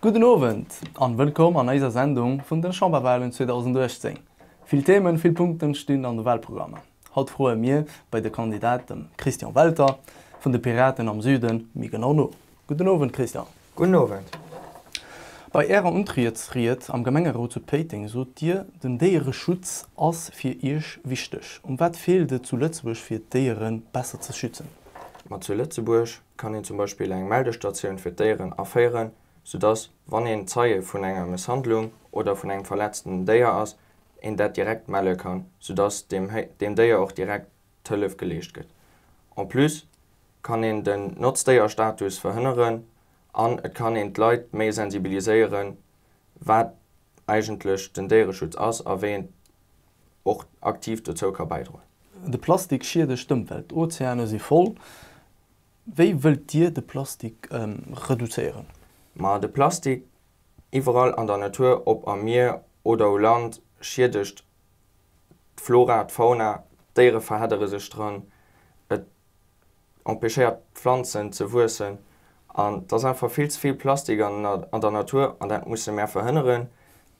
Gudden Owend an wëllkomm an eiser Sendung vun den Chamberwahlen 2018. Vill Themen, vill Punkten stinn an de Wahlprogrammer. Haut froen mir bei de Kandidat dem Christian Welter vun de Piraten am Süden méi genau no. Gudden Owend, Christian. Gudden Owend. Bei Ärer Untrietsried am Gemengerot zu Péiteng sot Dir, den Déiereschutz ass fir Iech wichteg. Um wat feelt et zu Lëtzebuerg fir d'Déiere besser ze schützen? Ma zu Lëtzebuerg kann een zum Beispill eng Meldestatioun fir d'Déieren aféieren, sou dass, wann een Zeie vun enger Mësshandlung oder vun engem verletzten Déier ass, een dat direkt melle kann, sou dass deem Déier och direkt d'Hëllef geleescht gëtt. En plus kann een den Notzdéierstatus verhënneren an et kann een d'Leit méi sensibiliséieren, wat eigentlech den Déiereschutz ass a wéi een och aktiv dozou ka bäidroen. De Plastik schiedegt d'Ëmwelt, d'Ozeane si voll. Wéi wëllt Dir de Plastik reduzéieren? Ma de Plastik iwwerall an der Natur, ob am Mier oder u Land, schiedegt d'Flora, d'Fauna, d'Déiere verheddere sech dran, et empêchéiert d'Pflanzen ze wuessen an et ass einfach vill ze vill Plastik an der Natur an dat musse mär verhënneren.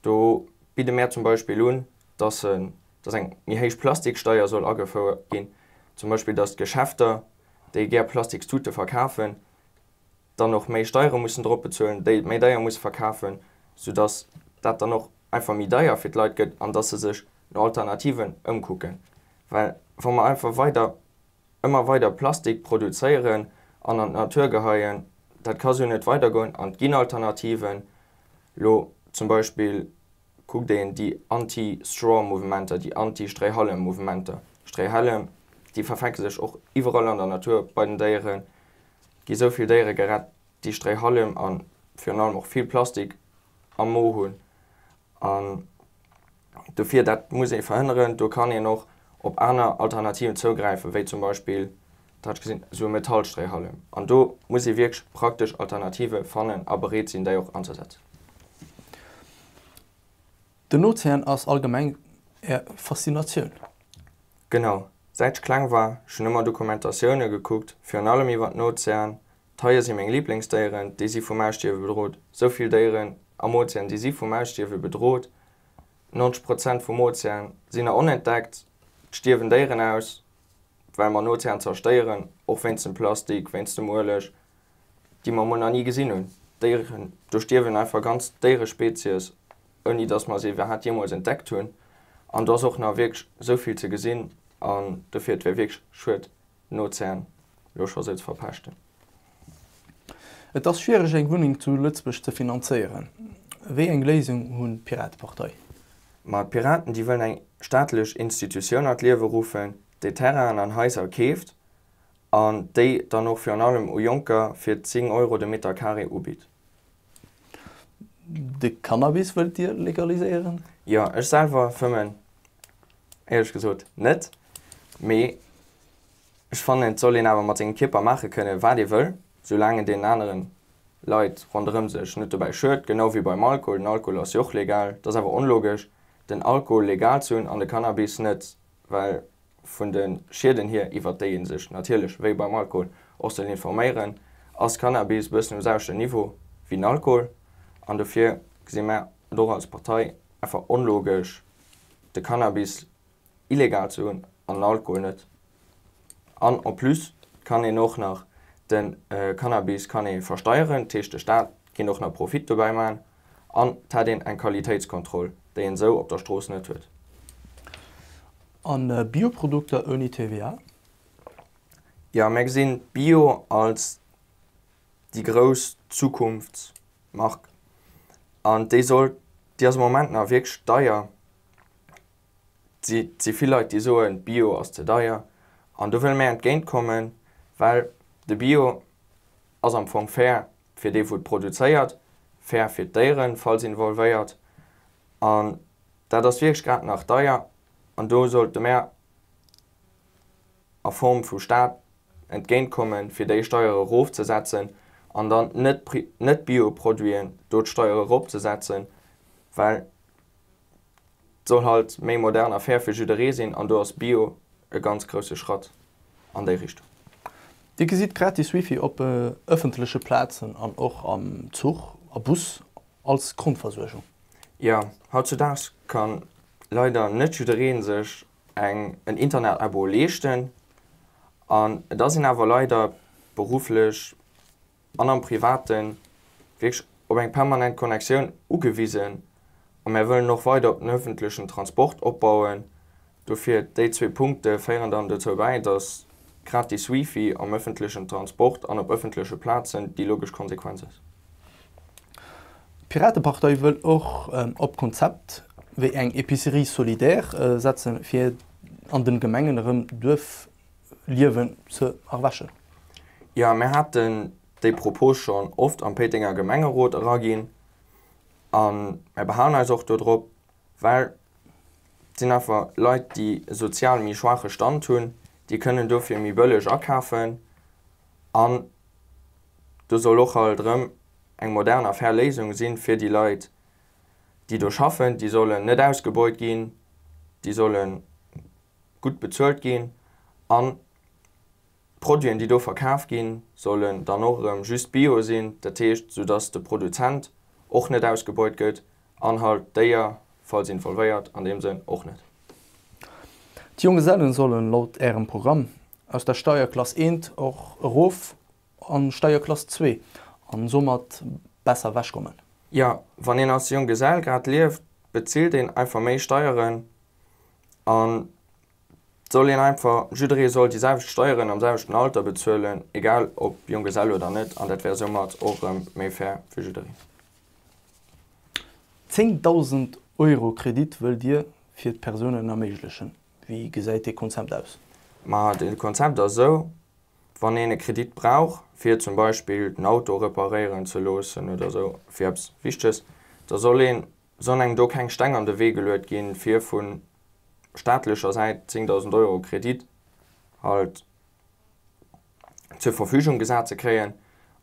Do bidde mär zum Beispill un, dass en, dass eng méi héich Plastiksteier soll agefouert ginn, zum Beispill dass d'Geschäfter, déi gär Plastikstute verkafen, dann och méi Steiere mussen drop bezuelen, déi et méi deier musse verkafen, soudass dat dann och einfach méi deier fir d'Leit gëtt an dass se sech no Alternativen ëmkucken. Well wa mer einfach weider, ëmmer weider Plastik produzéieren an an d'Natur geheien, dat ka esou net weidergoen an et ginn Alternativen. Elo zum Beispill kuckt een déi Anti-Straw-Mouvementer, déi Anti-Stréihallem-Mouvementer. Stréihällem, déi verfänke sech och iwwerall an der Natur bei den Déieren, gi sou vill Déiere gerett. déi Stréihallem a virun allem och vill Plastik am Mo hunn. An dofir, dat muss ee verhënneren, do kann een och op aner Alternativen zougräifen, wéi zum Beispill, dat hat ech gesinn, esou e Metallstréihallem. An do muss ee wierklech praktesch Alternative fannen a bereet sinn, déi och anzesetzen. Den Ozean ass allgemeng Är Faszinatioun? Genau. Säit ech kleng war, schon ëmmer Dokumentatioune gekuckt, virun allem iwwer den Ozean. D'Haie si meng Liblingsdéieren, déi si vum Ausstierwe bedrot. Sou vill Déieren am Ozean, déi si vum Ausstierwe bedrot. 90 Prozent vum Ozean sinn nach onentdeckt. Et stierwen Déieren aus, well mer den Ozean zerstéieren, och wéinst dem Plastik, wéinst dem Ueleg, déi mer emol nach ni gesinn hunn, Déieren, do stierwen einfach ganz Déierespezies, ouni dass mer se iwwerhaat jeemools entdeckt hunn. An do ass och nach wierklech esou vill ze gesinn an dofir et wär wierklech schued d'Nozähn elo scho esou ze verpeschten. Et ass schwiereg eng Wunneng zu Lëtzebuerg ze finanzéieren. Wéi eng Léisung hunn d'Piratepartei? Ma d'Piraten, déi wëllen eng staatlech Institutioun an d'Liewe ruffen, déi Terrainen an Haiser keeft an déi dann och virun allem u Jonker fir 10 Euro de Meter carré ubitt. De Cannabis wëllt Dir legaliséieren? Jo, ech selwer fëmmen éierlech gesot net, mee ech fannen et soll een awer mat sengem Kierper maache kënne wat ee wëll, soulaang et deenen aneren Leit ronderëm sech net dobäi schued, genau wéi beim Alkohol. Den Alkohol ass jo och legal, et ass awer onlogesch den Alkohol legal ze hunn an de Cannabis net. well vun de Schieden hier, iwwert déi ee sech natierlech wéi beim Alkohol och soll informéieren, ass Cannabis e bëssen um selwechte Niveau wéi den Alkohol an dofir gesi mer et och als Partei einfach onlogesch, de Cannabis illegal ze hunn an den Alkohol net. An en plus kann een och nach, de Cannabis kann ee versteieren, dat heescht de Staat kéint och nach Profit dobäi maachen. an et hätt een eng Qualitéitskontroll, déi een esou op der Strooss net huet. A Bioprodukter ouni TVA? Jo, mir gesinn Bio als déi grouss Zukunftsmark an déi sollt, déi ass am Moment nach wierklech deier. Et si vill Leit, déi soen, Bio ass ze deier an do wëlle mir entgéint kommen, well de Bio ass am Fong fair fir dee wou et produzéiert, fair fir d'Déieren, falls involvéiert, an dat ass wierklech grad nach deier, an do sollte mär a Form vu Staat entgéint kommen, fir déi Steiere erofzesetzen an dann net d'Bioproduiten do d'Steiere eropzesetzen, well Soll halt méi modern a fair fir jidderee sinn an do ass Bio e ganz grousse Schratt an déi Richtung. Dir gesitt gratis Wifi op ëffentleche Plazen an och am Zuch a Bus als Grondversuergung. Jo, hautzudaags kann leider net jidderee sech eng en Internet-Abo leeschten an et ass een awer leider berufflech an am Privaten wierklech op eng permanent Connectioun ugewisen a mär wëllen och weider op den öffentlechen Transport opbauen. Dofir, déi zwee Punkte féieren dann dozou bäi, dass gratis Wifi am öffentlechen Transport an op öffentleche Plazen déi logesch Konsequenz ass. D'Piratepartei wëll och op Konzept wéi eng Epicerie solidaire setzen, fir an den Gemengen erëm Duerf-, Liewen ze erwächen. Jo, mir haten déi Propos schonn oft am Péitenger Gemengerot eraginn a mir behalen eis och dodrop, well et sinn einfach Leit, déi e sozial méi schwaache Stand hunn, déi kënnen dofir méi bëlleg akafen an do soll och halt erëm eng modern a fair Léisung sinn, fir déi Leit, déi do schaffen, déi sollen net ausgebeut ginn, déi sollen. gutt bezuelt ginn an d'Produiten, déi do verkaf ginn, sollen dann och erëm just bio sinn, dat heescht, sou dass de Produzent och net ausgebeut gëtt an halt d'Déier, falls involvéiert, an deem Sënn och net. D'Jonggesellen sollen laut Ärem Programm aus der Steierklass eent och erof an d'Steierklass zwee an soumat besser ewech kommen. Jo, wann een als Jonggesell grad lieft, bezilt een einfach méi Steieren an soll een einfach, jidderee soll déi selwecht Steieren am selwechten Alter bezuelen, egal ob Junggesell oder net, an dat wär soumat och erëm méi fair fir jiddereen. 10.000 Euro Kredit wëllt Dir fir d'Persounen erméiglechen. Wéi gesäit dee Konzept aus? Ma dee Konzept ass esou, wann een e Kredit brauch, fir zum Beispill den Auto reparéieren ze loossen oder esou, fir eppes Wichteges, da soll een Sollen engem do keng Steng an de Wee geluet ginn, fir vu staatlecher Säit 10.000 Euro Kredit halt zur Verfügung gesat ze kréien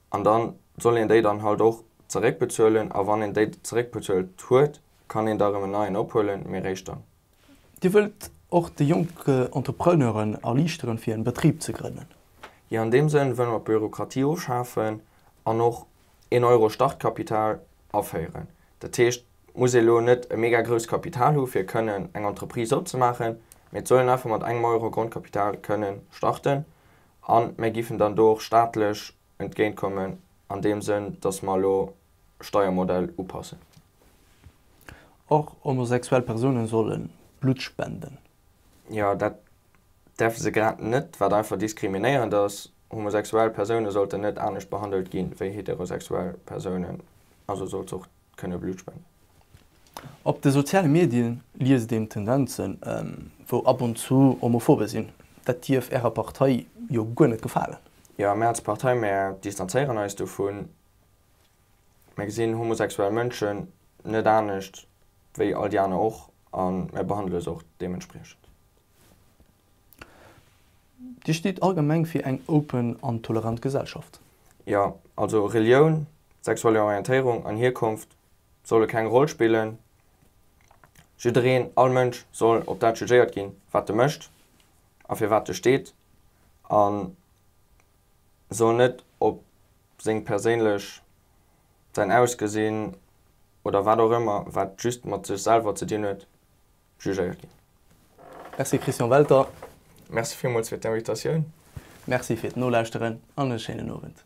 an da soll een déi dann halt och zeréckbezuelen a wann een déi zeréckbezuelt huet, kann een da erëm en neien ophuelen, mee eréischt dann. Dir wëllt och de jonke Entrepreneuren erliichteren, fir en Betrib ze grënnen? Jo, an deem Sënn wëlle mer d'Bürokratie ofschafen an och een Euro Startkapital aféieren. Dat heescht, et muss ee lo net e mega grousst Kapital hu fir kënnen eng Entreprise opzemaachen, mee et soll een einfach mat engem Euro Grondkapital kënnen starten an mär giffen dann do och staatlech entgéint kommen an deem Sënn, dass mer elo Steiermodell upassen. Och homosexuell Persounen solle Blutt spenden. Jo, dat däerfe se grad net, wat einfach diskriminéierend ass. Homosexuell Persounen sollten net anescht behandelt gi wéi heterosexuell Persounen, also sollt se och kënne Blutt spenden. Op de soziale Medie liest een Tendenzen, wou ab und zu Homophobe sinn. Dat dierf Ärer Partei jo guer net gefalen? Jo, mir als Partei, mir distanzéieren eis dovun. Mir gesinn homosexuell Mënschen net anescht wéi all déi aner och a mir behandele se och deementspriechend. Dir steet allgemeng fir eng open an tolerant Gesellschaft? Jo, also Relioun, sexuell Orientéierung an Hierkonft solle keng Roll spillen. Jiddereen, all Mënsch soll op dat jugéiert ginn, wat e mécht a fir wat e steet a soll net op seng perséinlech, säin Ausgesinn oder wat och ëmmer, wat just mat sech selwer ze dinn huet, jugéiert ginn. Merci Christian Welter. Merci villmools fir d'Invitatioun. Merci fir d'Nolauschteren an e schéinen Owend.